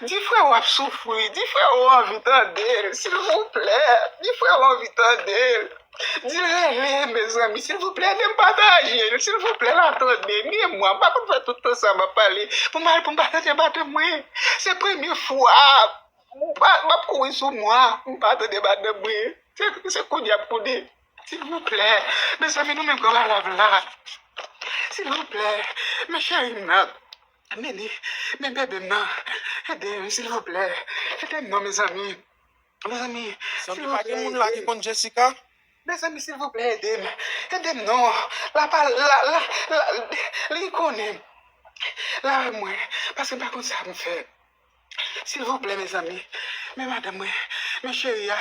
Di freo ap soufri, di freo anvi tande l silvouplè, di freo anvi tande l, di l rele mezanmi silvouplè edem pataje l silvouplè la tande m e mwen m pa konn fè tout tan sa map pale pou mal pou m pa tande madanm mwen se premye fwa map kouri sou mwa pou m pa tande madanm mwen se kounye a m konnen silvouplè mezanmi nou menm gran malav la silvouplè men cheri m nan. Mimi men bebem nan edem silvouplè edem non mezanmi mezanmi Mezanmi pa gen moun la ki konn Jessica? Mezanmi silvouplè edem edem non la pa la la li konnen l avèk mwen paske m pa konn sa pou m fè silvouplè mezanmi men madanm mwen men cheri a.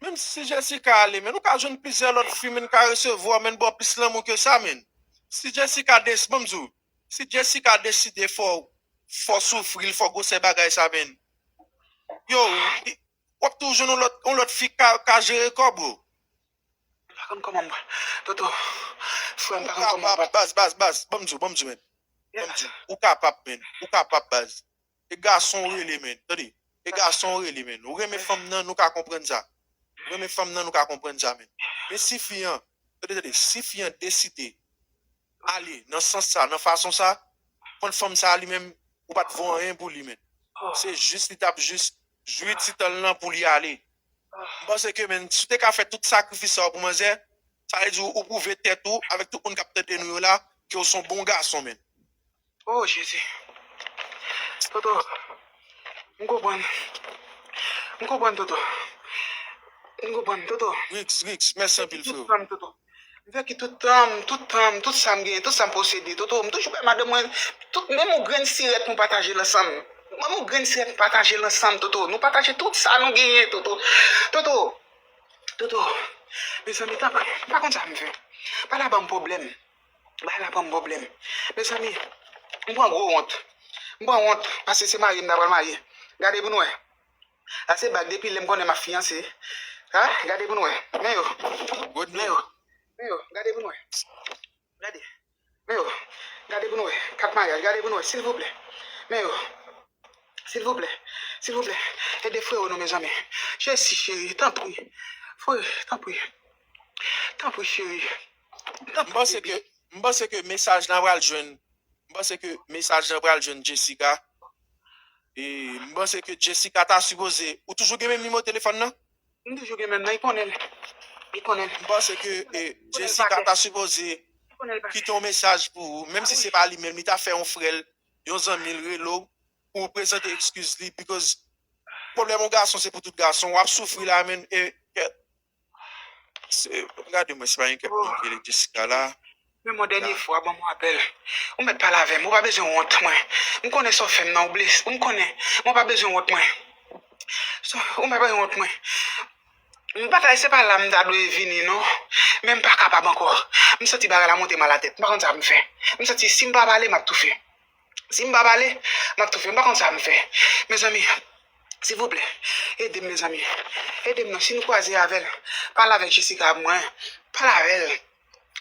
Menm si Jessica ale menn ou ka jwenn plizyè lòt fi menn ka resevwa menn baw plis lanmou ke sa menn si Jessica desi banm diw si Jessica deside fò fò soufril fò gwosè bagay sa menn yow li wap tou jwenn yon lòt yon lòt fi ka ka jere kòw bro. M pa konn kòman m pral Toto frèm m pa konn kòman m pral. Baz baz baz banm diw banm diw menn banm diw ou kapab menn ou kapab baz. E gason w rele menn. Tande. E gason w rele menn. Ou renmen fanm nan, nou ka konprann sa. Ou renmen fanm nan, nou ka konprann sa menn. Men si fi an, tande, tande, si fi an deside ale nan sans sa, nan fason sa, konn fanm sa li menm, ou pa t vo anyen pou li menn. Se jis li t ap jis jwi ti tan l lan pou li ale. M panse ke menn, si w te ka fè tout sakrifis sa yo pou manzè, sa vle di ou pwouve tèt ou avèk tout moun k ap tande nou yo la ke w s on bon gason menn. Oh jezi Toto m konprann m konprann Toto m konprann Toto Riks Riks mèsi m anpil freo. M vèki tout tanm tout tanm tout sam genyen tout sam posede Toto m toujou bay madanm mwen tout menm yon grenn sirèt nou patajel ansanm menm yon grenn sirèt nou patajel ansanm Toto nou pataje tout sa nou genyen Toto Toto Toto mezanmi tanpri pa konn sa m fè pa la banm pwoblèm Bagay la banm pwoblèm. Mezanmi, m pran gwo wont. M pran wont paske se mari m ta pral marye. Gade pou n wè. Sa se bag depi lè m konnen m ap fiyanse. Ha, gade pou n wè. Men yo. Men yo. Men yo. Gade pou n wè. Gade. Men yo. Gade pou n wè. Kat maryaj. Gade pou n wè. Silvouplè. Men yo. Silvouplè. Silvouplè. Ede freo nou mezanmi. Jesi cheri. Tanpri. Frè. Tanpri. Tanpri cheri. M panse ke m panse ke mesaj la pral jwenn m panse ke mesaj la pral jwenn Jessica e m panse ke Jessica ta sipoze ou toujou gen menm nimewo telefòn nan? M toujou gen menm nan, li konnen l, li konnen l. M panse ke Jessica ta sipoze kite yon mesaj pou ou menm si se pa li menm li ta fè yon frè l, yon zanmi l rele w pou ou prezante ekskiz li because pwoblèm yon gason se pou tout gason, w ap soufri la menm e Mwen gade mwen si pa gen kèk moun ki rele Jessica la. Men mwen dènye fwa banm yon apèl ou mèt pale avèm ou pa bezwen wont mwen m konnen sa w fèm nan ou blese m konnen mwen pa bezwen wont mwen ou pa bezwen wont mwen m pa ta se pa la m ta dwe vini non men m pa kapab ankò m santi bagay la monte m alatèt m pa konn sa pou m fè m santi si m pa pale m ap toufe. Si m pa pale, m ap toufe. M pa konn sa m fè. Mezanmi, silvouplè, ede m mezanmi. Ede m non. Si nou kwaze avè l, pale avèk Jessica ak mwen. Pale avè l.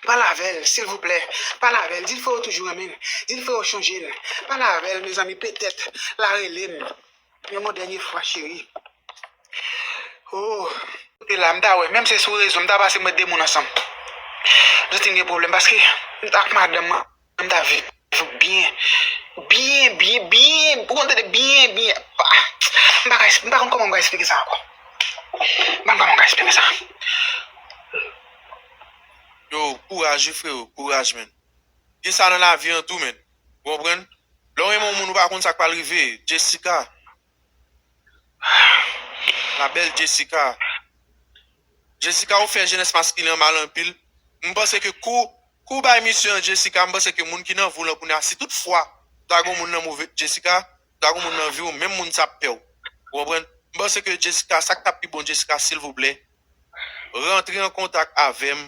Pale avè l, silvouplè. Pale avè l. Di l frè w toujou renmen l. Di l frè w chonje l. Pale avè l mezanmi. Petèt l a rele m yon mo dènye fwa cheri. O! E la, m ta wè. Menm se sou rezo, m ta pase mwen de moun ansanm. M santi m gen pwoblèm paske ak madanm mwen. M ta viv ou byen. Byen, byen, byen. Ou konn tande byen, byen. M pa ka esplike. M pa konn kòman m ka esplike sa ankò. M pa konn kòman m ka esplike sa. Yo, kouraj wi freo. Kouraj menn. Gen sa nan lavi an tou menn. Ou konprann? Lè w renmen yon moun ou pa konn sa k pral rive. Jessica. La belle Jessica Jessica ou fè jenès maskilen an mal anpil M panse ke kou ou bay misye an Jessica m panse ke moun ki nan vi w lan kounye a si tout fwa ta gen yon moun nan move Jessica ta gen yon moun nan vi w menm moun sa ap pè w ou konprann m panse ke Jessica sa k tap pi bon Jessica silvouplè rantre an kontak avèm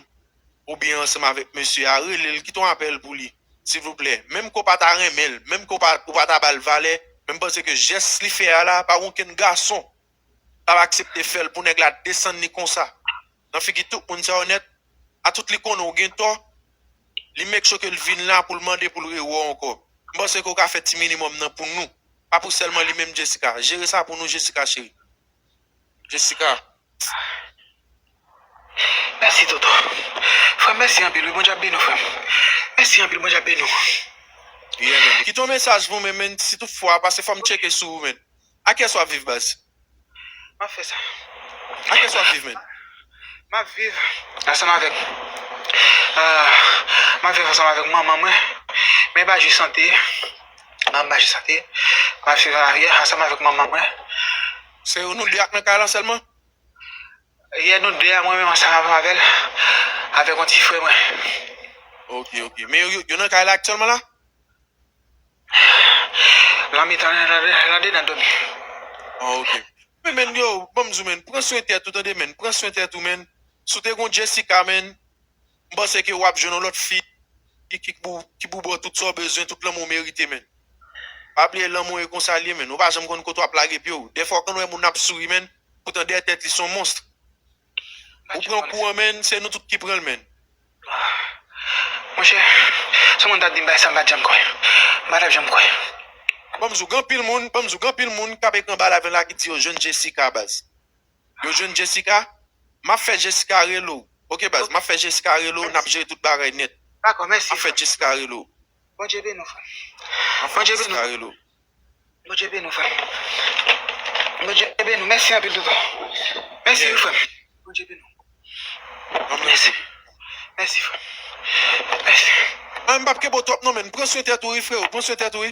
oubyen ansanm avèk mesye a rele l kite yon apèl pou li silvouplè menm ke w pa ta renmen l menm ke w pa ta ba l valè men m panse ke jès li fè a la pa gen okenn gason k ap aksepte fè l pou nèg la desann li konsa nan figi tout moun sa yo nèt atout li konnen w gen tò li make sure ke l vin la pou l mande pou l re wè w ankò m panse ke w ka fè ti minimòm nan pou nou pa pou sèlman li menm Jessica jere sa pou nou Jessica cheri. Jessica. Mèsi toto frèm mèsi anpil wi bondye ap beni w frèm mèsi anpil bondye ap beni w. Yeah man kite yon mesaj pou mwen man si tout fwa pase fòm tcheke sou ou man akiyès wap viv baz. Map fè sa. Akiyès wap viv man. Map viv ansanm avèk ahh map viv ansanm avèk manman mwen men epa jis sante. nan maj sa te mal fè aryè ansanm avèk manman mwen se nou 2 ak nan kay lan sèlman yè nou 2 a mwen menm ansanm avèk avèl avèk yon ti frè mwen ok ok men yo nan kay la aktyèlman la lan mitan lan dedan nan dòmi an ok men men yo banm di w men pran swen tèt ou tande men pran swen tèt ou men si w te gon Jessica men. m panse ke wap jwenn yon lòt fi ki pou baw tout sa w bezwen, tout lanmou w merite menn. Pa bliye lanmou e konsa l ye menn, ou pa janm konn kote wap lage pye w. Dèfwa w konn wè moun ap souri menn, poutan dèyè tèt li son monstre. Ou pran kou an menn, se nou tout ki pran l menn. Monchè, si w konn sa w t di m bay sa m pa t janm kwè. M pa t ap janm kwè. Banm di w gen anpil moun, banm di w gen anpil moun kap ekri anba live lan la ki di yo jwenn Jessica baz. Yo jwenn Jessica? Map fè Jessica rele w ok baz map fè Jessica rele w nap jere tout bagay nèt Dakò mèsi frèm Map fè Jessica rele w Bondye beni w frèm Map fè Jessica rele w Bondye beni w frèm Bondye beni w mèsi anpil tonton Mèsi wi frèm Bondye beni w Mèsi Mèsi frèm Mèsi Mpap kenbe w twòp non menn pran swen tèt ou wi freo pran swen tèt ou wi.